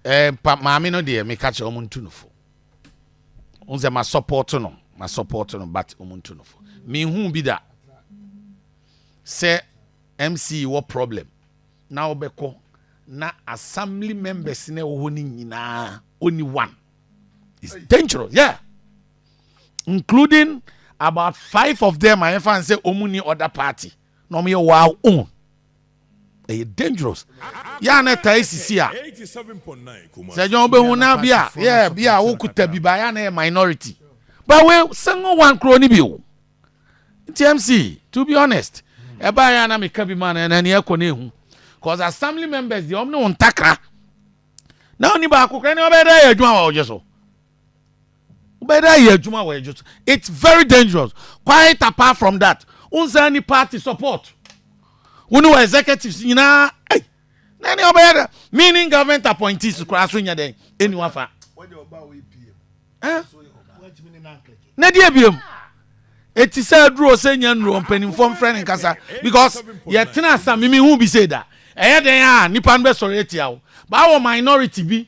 Ɛɛ pa maame no deɛ meka kyerɛ ɔmo ntu no fo n sɛ ma support no ma support no but ɔmo ntu no fo mehu bi da sɛ mc wɔ problem na ɔbɛkɔ na assembly members na ɛwɔ hɔ no nyinaa only one is dangerous yeah including about five of them a yɛfa n sɛ ɔmo ni other party na ɔmo yɛ wow own ɛyɛ dangerous yɛ a na ɛtae sisi a sɛ ɛnyɛ ɔbɛhu na bi a yɛ bi a wokuta bi ba yɛ a na yɛ minority but we single one kuro ni bi o nti mc to be honest ɛbaa yɛ a na meka bi ma na ɛna ni ɛkɔ na ehu cause assembly members deɛ ɔmo ne wɔn ntakra na ɔni baako kura ne ɔbɛyɛ dɛ yɛ adwuma wɔ ɔgye so. wobɛyɛ dɛ ayɛ adwuma a wɔyɛ dwoso it's very dangerous quite apart from that wonsan ni party support wo ne wɔ executives nyinaa ei na ɛne ɔbɛyɛ dɛ meaning government appointees koraa so nyɛ dɛn ɛni wafa na deɛ biom ɛti sɛ aduro sɛ nya nnuro mpanimfoɔ mfrɛ ne nkasa because yɛtena asa meme hu bi sei da ɛyɛ dɛn a nipa no bɛsɔre atia wo baa wɔ minority bi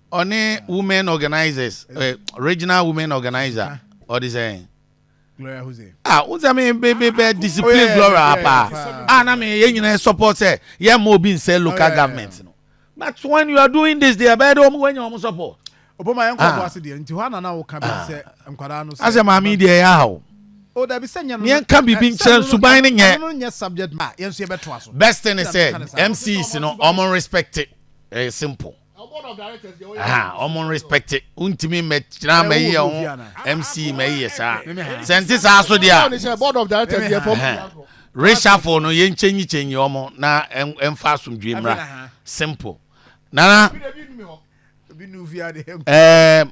Ɔne women organizers eh, regional women organizer ɔde sɛ. Gloria Jose. Ah, wo sɛ me be be be discipline oh, yeah, Gloria yeah, yeah, pa. Yeah, ah, na me yɛn nyinaa support sɛ yɛ mo obi nsɛ local oh, yeah, government yeah. no. But when you are doing this, they are bad. Omo when you omo support. Obo ma yɛn kɔ ɔbo ase deɛ nti hɔ anana wo ka bi sɛ nkwadaa no sɛ. Asɛ maame deɛ yɛ ahaw. O dabi sɛ nyɛ no. Yɛn ka bibi nkyɛn nsuban ne nyɛ. Ɛno nyɛ subject ma yɛn nso yɛ bɛ to aso. Best thing is sɛ MCs no ɔmo respect it. Eh, simple. Aha, wɔn respect ntumi mmɛkyerɛ ama yi yɛ ho MC ma yi yɛ saa. Sɛ nti saa so deɛ a. Reshuffle no yɛn kyɛnyi kyɛnyi wɔn na ɛnfa asomdwe mmra. Simple. Nana. Ɛɛ.